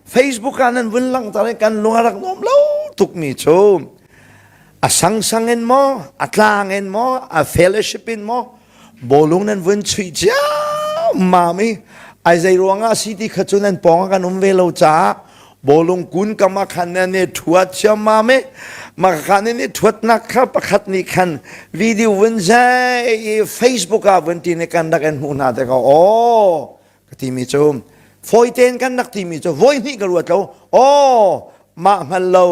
Facebook ah nan vun langhter i kan lung a rak nuam lo tukmi cu a sangsang in maw a tlang in maw a fellowship in maw bawlung nan vun chuih cia mam i ai zei ruang ah si ti kha cu nan pawng ah kan um ve lo caah bawlung kun kam ah khan nan i thuat chiam mam i maka khan in i thuatnak kha pakhat nih khan video vun zei i Facebook ah vun ti ne kan rak in hmuh hna te ka aw ka timi cu fawi tein kan rak timi cu voi hnih ka ruat lo aw mah hngal lo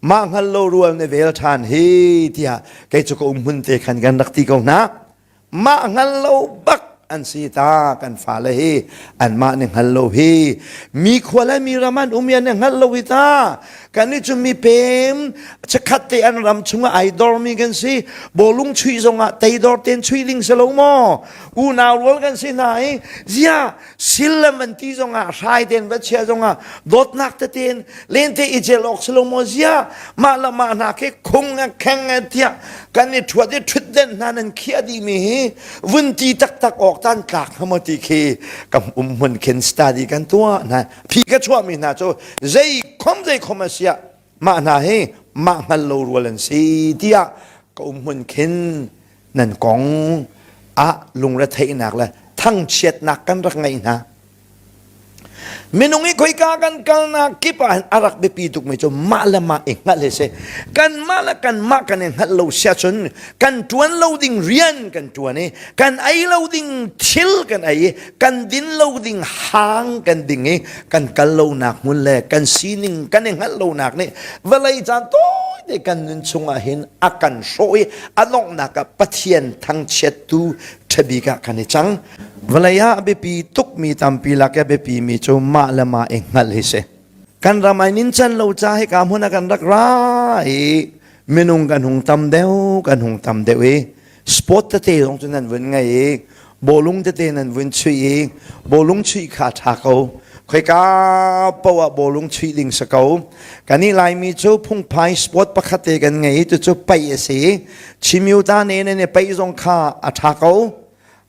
mah hngal lo rual na vel ṭhan hi tiah kei cu ka um mun te khan kan rak ti ko hna mah hngal lo bak an si ta kan fale hi an mah ne hngal lo hi mi khua le mi ram an um ya ne hngal lo hi ta kan ni cu mi pem chakhat te an ram chunga ai dor mi kan si bolung chui zongah tei dor ten chui ling se lo maw unau rual kan si hna i zia sillam an ti zongah hrai deng va chia zongah dawtnak tetein lente i cel awk salomo zia mah le mah hna ke khung le kheng le tiah kan i thuat i thut den hna nan khiah dihmi hi vun ti taktak awk tan tlak hama ti khi kam um hun khin study kan tua hna phi ka chuahmi hna cu zei khom zei khom asiah mah hna hi mah hngal lo rual an si tiah ka umhmun khin nan kong ah lungretheihnak le thangchiatnak kan rak ngei hna minung i khoika kan kalnak kip ah a rak biapi tukmi cu mah le mah i hngalh hi si kan mah le kan mah kan i hngalh lo sia cun kan tuan lo ding rian kan tuan i kan ei lo ding thil kan ei i kan din lo ding hang kan ding i kan kal lonak hmun le kan sining kan i hngalh lonak nih vawlei caan tawite kan nun chungah hin a kan hrawh i a donghnak ah pathian thangchiattu ṭhabik ah kan i cang vawlei ah a biapi tukmi tampi lak i a biapimi cu mah le mah i hngalh hi si kan ram ai nin chan lo cha hi ka hmun a kan rak ra i minung kan hung tam deuh kan hung tam deuh i sport tete zong cu nan vun ngei i bawlung tete nan vun chuih i bawlung chuih kha ṭha ko khoika poah bawlung chuih ding si ko kan i laimi cu phungphai sport pakhat te kan ngei cucu paih a si chimyu ta ne nan i paih zong kha a ṭha ko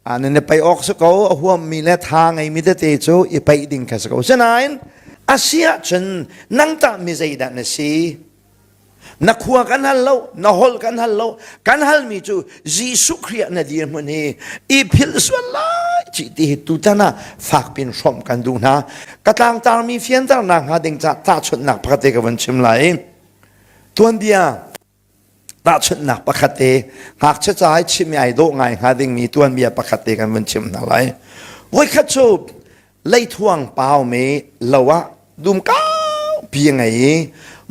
a nan i paih awk si ko a huammi le tha ngeimi tete cu i paih ding kha si ko sinain a si ahcun nang tah mi zeidah na si na khua kan hal lo na holh kan hal lo kan halmi cu jesuh khrih na dirhmun hi i phil sual lai ci ti hi tutan ah fak pin hrawm kan duh hna ka tlangtarmi fianternak hnga ding ca tahchunhnak pakhat te ka van chim lai tuanbia tahchunhnak pakhat te ngakchia ca hai chim ai dawh ngai hnga dingmi tuanbia pakhat te kan van chim hna lai voikhat cu leithuang pau me lo ah dum kaupi a ngei i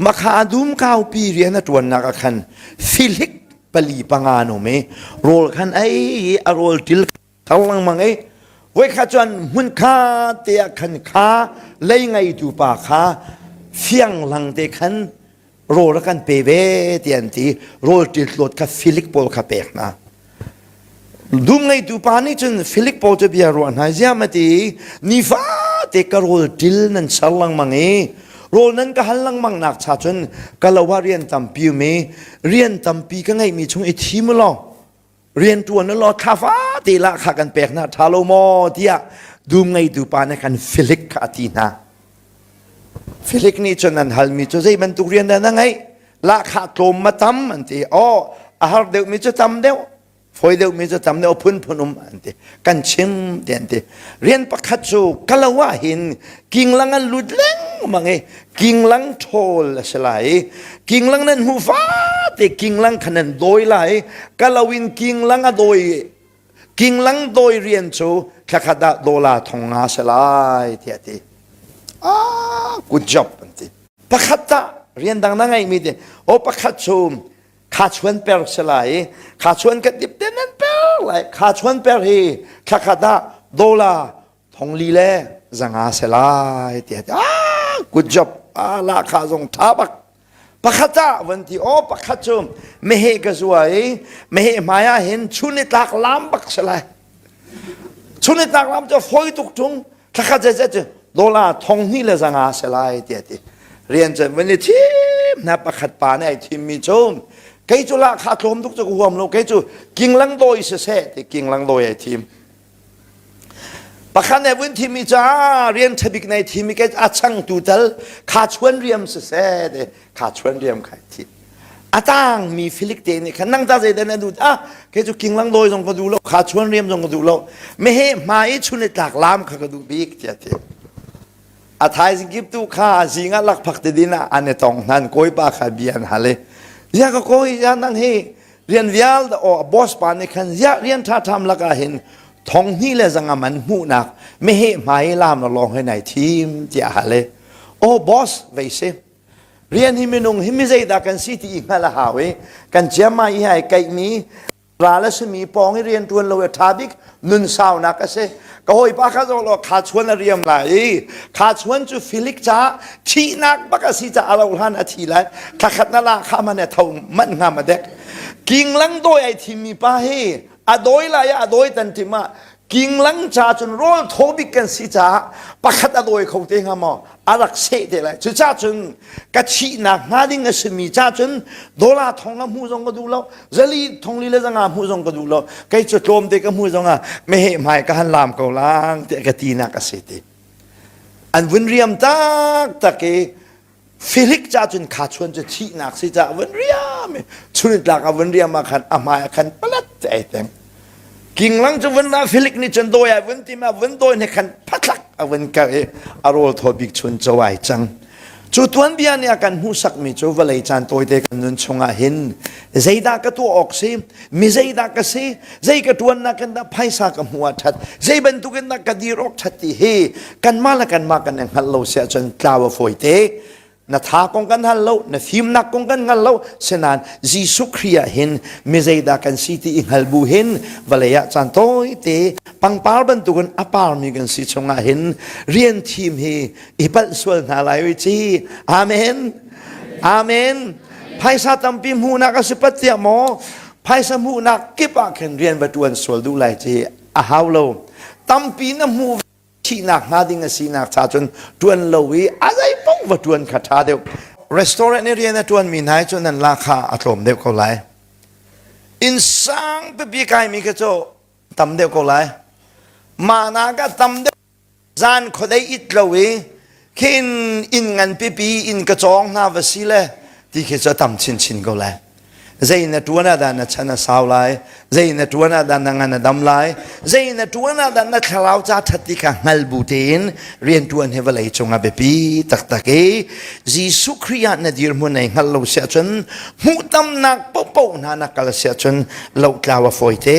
makha dum kaupi rian a ṭuannak ah khan filik pali panga an um i rawl khan ei i a rawl ṭil thar lengmang i voi khat cun hmun kha te ah khan kha lei ngeitu pa kha fianglang te khan rawl a kan pe ve ti an ti rawl ṭil hlawt kha Philip pawl kha pek hna dum ngeitu pa nih cun Philip pawl cu bia ruah hna ziam a ti nifate ka rawl ṭil nan ser lengmang i rawl nan ka hal lengmang nak cha cun ka lo ah rian tampi um i rian tampi ka ngeihmi chung i thim u law riantuan law thlafa te la kha kan pek na tha lo maw tiah dum ngeitu pa nih kan filik kha a ti hna filik nih cun an halmi cu zei bantuk rian dah na ngei lahkhah tlawm ma tam an ti o a har deuhmi cu tam deuh foi deuhmi cu tam deuh phunphun um an ti kan chim tian ti rian pakhat cu kalawa hin kinglang an lut lengmang i kinglang ṭhawl a si lai i kinglang nan hmu fate kinglang khan an dawi lai kalawin kinglang a dawi kinglang dawi rian cu thlakhat ah dola thong nga se lai tiah ti ah good job an ti pakhat ta rian dang na ngeimi ti o pakhat cu kha chuan per si lai i kha chuan kan dip ten an per lai kha chuan per hi thla khat ah dola thongli le zanga se lai tiah ah good job ah la kha zong tha bak pakhat ah van ti o pakhat cu mehe ka zuwa i mehe hmaya hin chun i tlak lam bak se lai chun i tlak lam cu foi tuk chung Thlakhat zeizet cu dola thong hnih le zanga se lai tiah ti rian cu van i thim hna pakhat pa nih ai thim mi cu kei cu la kha tlawm tuk cu huam lo kei cu kinglang dawi se se ti kinglang dawi ai thim pakhat nih vun thim mi ca rian ṭhabik nei thim mi ke a chang tu tal kha chuan riam se se ti kha chuan riam khai thi a tang mi filik te nih khan nang ta zei dan a dut a ke chu kinglang doi zong ka du lo kha chuan riam zong ka du lo me he ma i chun le tlak lam kha ka du bik tia ti a thaizing kip tu kha zinga lak phak te din a ane tong hnan koi pa kha bian hale ya ka koi ya nang he rian vial da o boss pa ne khan ya rian tha tham laka hin thong ni le zanga man mu nak me he mai lam na long he nai thim tia hale o boss vei se Rian hi minung hi mi zeidah kan si ti i hngalh a hau i kan ciam ai ai kaihmi ra le simi pawng i rian ṭuan lo hi a ṭha bik nun saunak a si. Ka hawipa kha zoh law kha chuan a riam lai i kha chuan cu filik caah thihnak bak a si caah a rauhhlan a thi lai. Thla khat na la kha man e tho manh hna ma dek. Kinglang dawi ai thimmi pa hi a dawi lai i a dawi tan tim ah Kinglang ca cun rawl thaw bik kan si caah pakhat a dawi kho te hnga maw? A rak seh te lai. Cucaah cun ka thihnak hnga ding a simi ca cun dollar thong ka hmuh zong ka duh lo, zali thongli le zanga hmuh zong ka duh lo. Kei cu tlawm te ka hmuh zongah meheh hmai ka han laam ko lang tiah ka tinak a si ti. An vun riam taktak i Felix ca cun kha chuan cu thihnak si ca van riam i chunit tlak ah van riam ah khan a hmai ah khan palat te ai teng kinglang cu van ra Felix nih cun dawi ai van tim ah van dawi ne khan phathlak a van kar i a rawl thaw bik chun co ai cang cu tuan bia nih a kan hmuhsak mi cu vawlei caan tawite kan nun chungah hin zeidah ka tuah awk si mi zeidah ka si zei ka tuannak in dah phaisa ka hmuh ah that zei bantuk in dah ka dir awk that ti hi kanmah le kanmah kan i hngal lo si ahcun tlau a fawi te na tha kong kan hal lo na fimnak kong kan hngal lo sinan Jesuh Khrih ah hin mi zeidah kan si ti i hngal bu hin vale ah caan toi te pangpar bantuk in a par mi kan si chungah hin rian thim hi i palh sual hna lai ui ci amen Amen. Phaisa tampi hmuhnak a si pat tiah maw phaisa hmuhnak kip ah khin rian va tuan sual duh lai ci a hau lo. Tampi na hmuh thihnak hnga ding a sinak cha cun tuan lo i a zei paoh va tuan kha tha deuh. Restaurant i rian a tuan mi nai cun nan la kha a tlawm deuh ko lai. Inn sang pipi kai mi kha cu tam deuh ko lai. Mana ka tam deuh Zan khuadei it lo i khin inn ngan pipi inn ka cawng hna va si le ti khi cu a tam chinchin ko lai. Zei na tuan ah dah na chan a sau lai? Zei na tuan ah dah na ngan a dam lai? Zei na tuan ah dah na thlarau ca ṭhat ti kha hngal bu tein rianṭuan hi vawlei cungah biapi taktak i Jesuh Khrih ah na dirhmun ai hngal lo si ahcun hmuhtamnak paohpaoh hna na kal si ahcun lohtlau a fawi te